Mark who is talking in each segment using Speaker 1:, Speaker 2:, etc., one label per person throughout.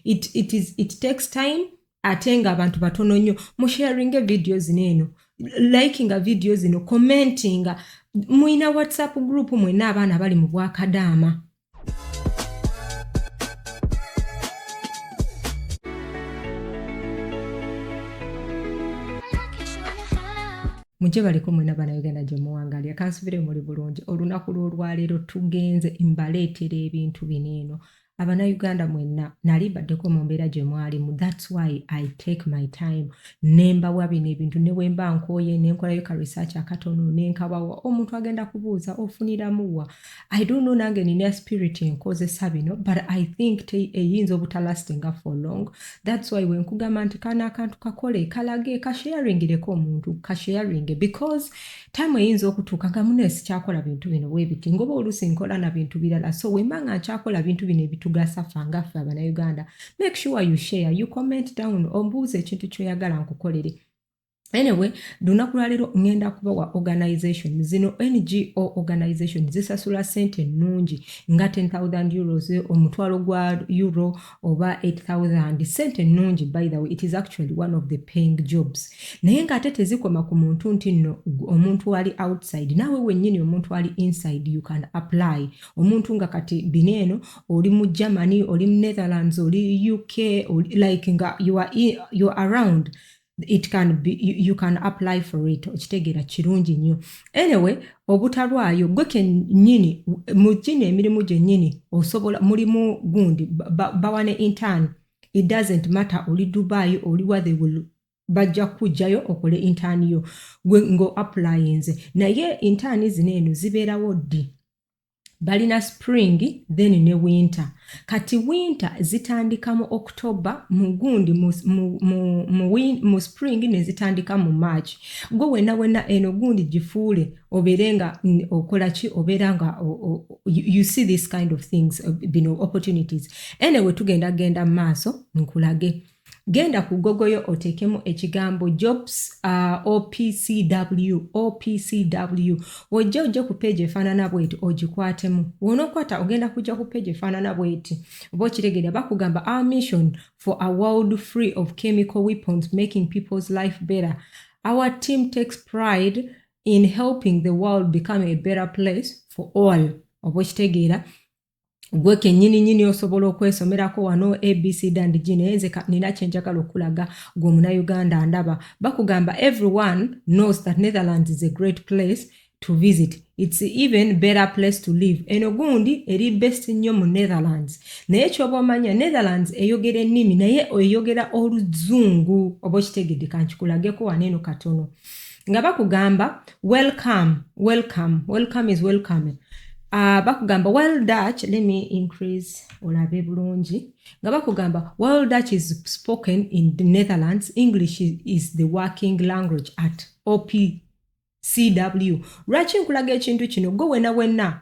Speaker 1: it, it, is, it takes time ate nga abantu batono nnyo musharinge vidiyo zino eno likinga vidiyo zino commentinga mulina whatsapp group mwena abaana bali mu bwakadaama mujje baliko mwena banauganda gyemuwangalya kansubire muli bulungi olunaku lwolwaleero tugenze mbaleetera ebintu bino eno abanauganda mwenna nali mbaddeko mu mbeera gye mwalimu thats why i take my time nembawa bino ebintu ne bwemba nkooye nenkolayo ka research akatono nenkabawa omuntu agenda kubuuza ofuniramuwa i don't know nange nina spirit enkozesa bino but i think eyinza obutalastinga for long thats why wenkugamba nti kana akantu kakole kalage kasharingireko omuntu kasharinge because time eyinza okutuuka nga munaye sikyakola bintu bino webiti ngoba oluusi nkola na bintu birala so wemba nga nkyakola bintu bino ebitugasa fa nga ffe abanauganda make sure you share you comment down ombuuza ekintu kyoyagala nkukolere anyway lunaku lwaleero ŋŋenda kubawa organization zino ngo organization zisasula sente ennungi nga 10000 euros omutwalo gwa euro oba 8000 sente ennungi by the way it is actually one of the paying jobs naye nga ate tezikoma ku muntu nti nno omuntu ali outside naawe wennyini omuntu ali inside you can apply omuntu nga kati bino eno oli mu germany oli mu netherlands oli uk oli, like nga you are, you are around it can be you, you can apply for it okitegeera kirungi nnyo anyway obutalwayo gwe kenyini mu gino emirimu gyennyini osobola mulimu gundi bawa ne intern it doesn't matter oli dubai oli wa they will bajja kujjayo okole intern yo gwe ngo applyinze naye intern zino eno zibeerawo ddi balina spring then ne winter kati winter zitandika mu october mugundi mu, mu, mu, mu, mu spring nezitandika mu march gwe wena wena eno gundi gifuule obeere nga okola ki obeera nga you see this kind of things uh, bino opportunities anyway tugenda genda maaso nkulage genda ku gogoyo oteekemu ekigambo jobs uh, opcw opcw wojja ojja ku peegi efaanana bweti ogikwatemu wonokwata ogenda kujja ku peegi efaanana bweti oba okiregera bakugamba our mission for a world free of chemical weapons making people's life better our team takes pride in helping the world become a better place for all oba okitegeera gwe kenyini nyini osobola okwesomerako wano abc dandg naye nze nina kyenjagala okulaga gwe omunauganda ndaba bakugamba everyone knows that netherlands is a great place to visit its even better place to live eno gundi eri best nnyo mu netherlands naye kyoba omanya netherlands eyogera ennimi naye eyogera oluzungu oba okitegedde kankikulageko waneeno katono nga bakugamba welcome welcome welcome is welcome uh, bakugamba well dutch let me increase olabe bulungi nga bakugamba well dutch is spoken in the netherlands english is the working language at op cw lwaki nkulaga ekintu kino gwe wena wena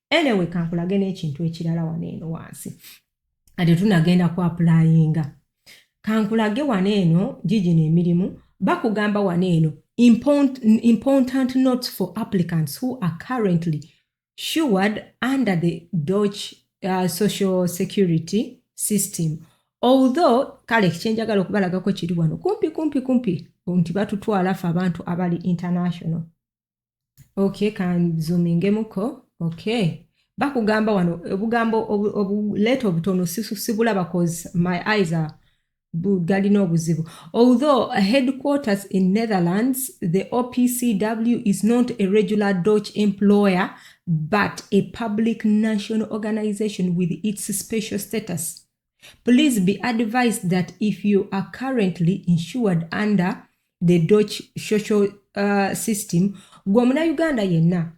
Speaker 1: anyway kankulage n'ekintu ekirala wano eno wansi ate tunagenda ku apulayinga kankulage wano eno gigino emirimu bakugamba wano eno important notes for applicants who are currently shured under the dodge uh, social security system although kale kyenjagala okubalagako kiri wano kumpi kumpi kumpi nti batutwala fe abantu abali international okay kanzumingemuko okay bakugamba wano obugambo obuleeta obutono sibulaba cause my eyes are galina obuzibu although headquarters in netherlands the opcw is not a regular dutch employer but a public national organization with its special status Please be advised that if you are currently insured under the Dutch social uh, system, gwe omunayuganda yenna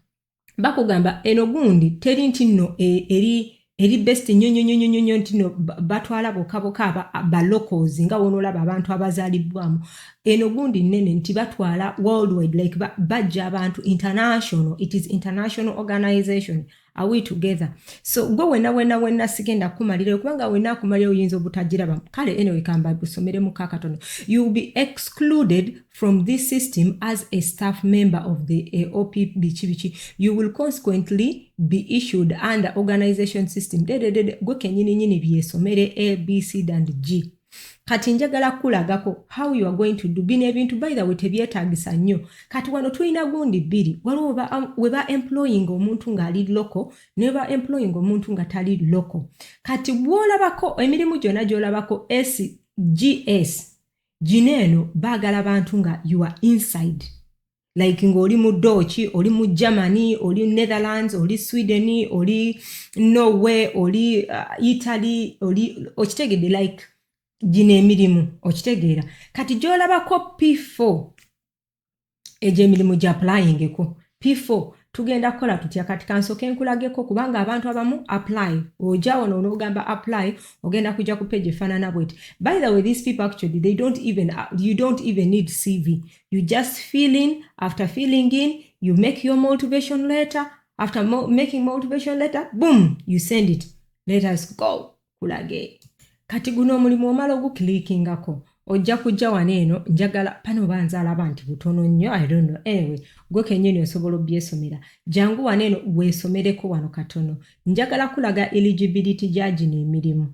Speaker 1: bakugamba eno gundi teri nti nno e, eri eri best nnyo nnyo nnyo nnyo nnyo nti no batwala boka boka ba locals nga wonolaba abantu abazalibbwamu eno gundi nnene nti batwala worldwide like bajja abantu international it is international organization are we together so gwe wena wena wena sigenda kumalirayo kubanga wena akumalirayo oyinza obutagiraba kale anyway kamba gusomere mu kakatono you will be excluded from this system as a staff member of the eh, op biki biki you will consequently be issued under organization system dededede gwe kenyini nyini byesomere abc and g kati njagala kulagako how you are going to do bino ebintu by the way tebyetagisa nnyo kati wano tulina gundi bbiri waliwo um, weba employing omuntu ng'ali loko neba employing omuntu nga tali loko kati bwolabako emirimu gyona gyolabako sgs gino eno baagala bantu nga you are inside like ng'oli mu dooki oli mu germany oli netherlands oli sweden oli norway oli uh, italy oli okitegedde like gino emirimu okitegeera kati gyolabako p4 egyo emirimu gya playingeko p4 tugenda kukola tutya kati kansoke nkulageko kubanga abantu abamu apply oja wano onogamba apply ogenda kujja ku page efanana bweti by the way these people actually they don't even, you don't even need cv you just fill in after filling in you make your motivation letter after mo making motivation letter boom you send it let us go kulage kati guno omulimu omala oguklikingako ojja kujja wano eno njagala pano oba nze alaba nti butono nnyo i don't know anyway gwe kenyini osobola obyesomera jangu wano eno weesomereko wano katono njagala kulaga eligibility gya gino emirimu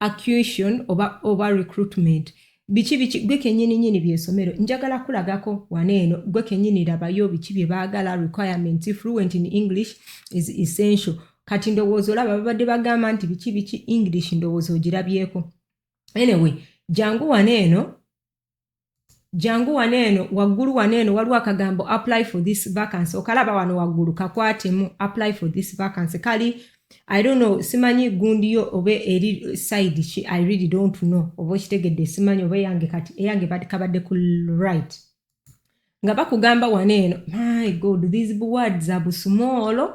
Speaker 1: acquisition oba, oba recruitment biki biki gwe kenyini nyini byesomero njagala kulagako wana eno gwe kenyini labayo biki bye baagala requirement fluent in english is essential kati ndowooza olaba babadde bagamba nti biki biki english ndowooza ogirabyeko anyway jangu wana eno jangu wano eno waggulu wano eno waliwo akagambo apply for this vacancy okalaba wano waggulu kakwatemu apply for this vacancy kali i don't know simanyi gundi yo oba eri side ki i really don't know oba okitegedde simanyi oba eyange kati eyange kabadde ku right nga bakugamba wano eno my god these words abusumoolo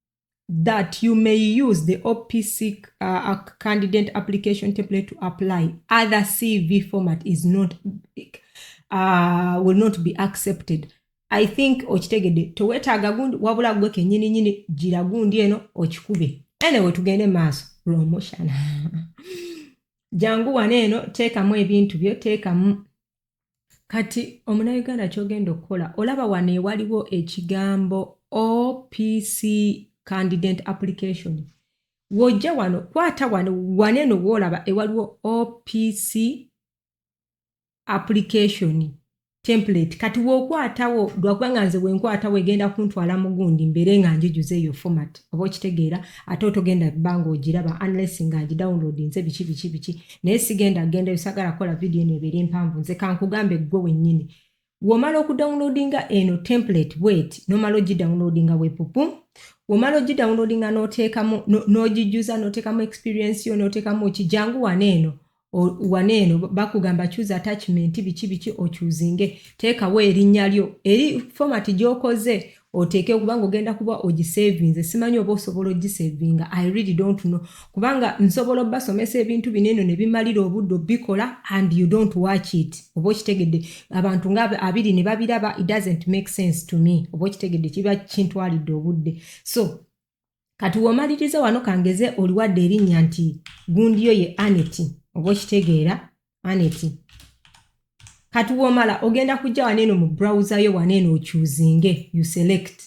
Speaker 1: that you may use the OPC uh, candidate application template to apply. Other CV format is not uh, will not be accepted. I think okitegedde tewetaaga gundi wabula gwe kenyini nyini gira gundi eno okikube. Anyway tugende maaso promotion. Jangu wano eno teekamu ebintu byo teekamu kati omunauganda kyogenda okukola olaba wano ewaliwo ekigambo opc candidate application wojja wano kwata wano wane eno woolaba ewaliwo opc application template kati wokwatawo lwakubanga nze wenkwatawo egenda kuntwala mugundi mbeere nga njijuza eyo format oba okitegeera ate otogenda banga ogiraba unless nga ngi download nze biki biki biki naye sigenda genda yosagala kola video eno ebeere mpanvu nze kankugambe gwe wenyini womala okudownloadinga eno template bwet nomala ogidownloadinga wepupu womala ogidownloadinga notekamu nogijuza notekamu experience yo notekamu ki jangu wana eno wana eno bakugamba choose attachment biki biki ochuzinge teekawo erinnya lyo eri format gyokoze oteeke kubanga ogenda kuba ogisavinze simanyi oba osobola ogisavinga i really don't know kubanga nsobola obasomesa ebintu bino eno ne bimalira obudde obikola and you don't watch it oba okitegedde abantu nga abiri ne babiraba it doesn't make sense to me oba okitegedde kiba kintwalidde obudde so kati womaliriza wano kangeze oliwadde erinnya nti gundiyo ye aneti oba okitegeera aneti kati womala ogenda kujja wano eno mu browser yo wano eno ocuzinge you select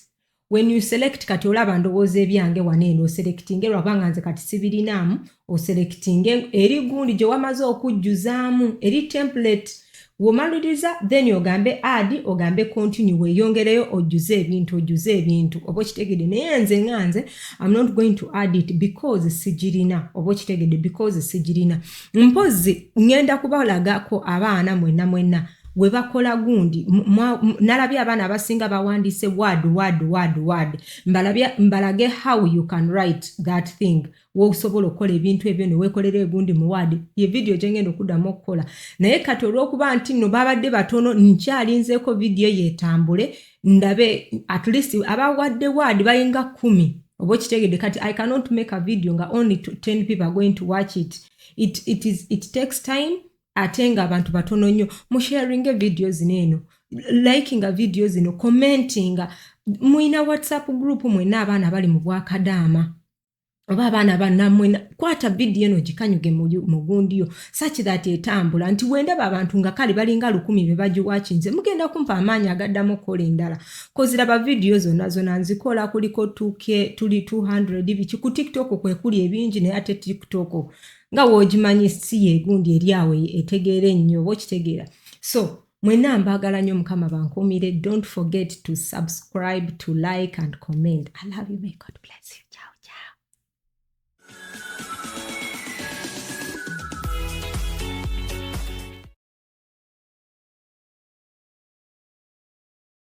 Speaker 1: when you select kati olaba ndowooza ebyange wano eno oselectinge lwakubanga nze kati sibirinaamu oselectinge eri gundi gye wamaze okujjuzaamu eri template womaliriza then ogambe ad ogambe continue weyongereyo ojjuze ebintu ojjuze ebintu oba okitegede naye nze nga nze am not going to add it because sigirina oba okitegede because sigirina mpozi ngenda kubalagako abaana mwenna mwenna gwe bakola gundi nalabye abaana abasinga bawandiise word word word word mbalage how you can write that thing wosobola okukola ebintu ebyo newekolera egundi muwaadi ye vidiyo gyengenda okuddamu okukola naye kati olwokuba nti no babadde batono nkyalinzeeko vidiyo yetambule ndabe at least abawadde waadi bayinga kumi oba okitegedde kati i cannot make a video nga only 10 people are going to watch it it, it, is, it takes time ate nga abantu batono nnyo musharinge vidiyo zino eno likinga vidiyo zino commentinga mulina whatsapp group mwena abaana bali mu bwakadaama oba abaana banamwe kwata vidiyo eno gikanyuge mugundiyo such that etambula nti wendaba abantu nga kale balinga lukumi bebagiwakinze mugenda kumpa amaanyi agaddamu okukola endala koziraba vidiyo zonna zona nzikola kuliko tuke tuli 200 biki ku tiktok kwekuli ebingi naye ate tiktok nga wogimanyi si yegundi eri awo etegeera ennyo oba okitegeera so mwena mbagala nyo mukama bankumire don't forget to subscribe to like and comment i love you may god bless you ciao ciao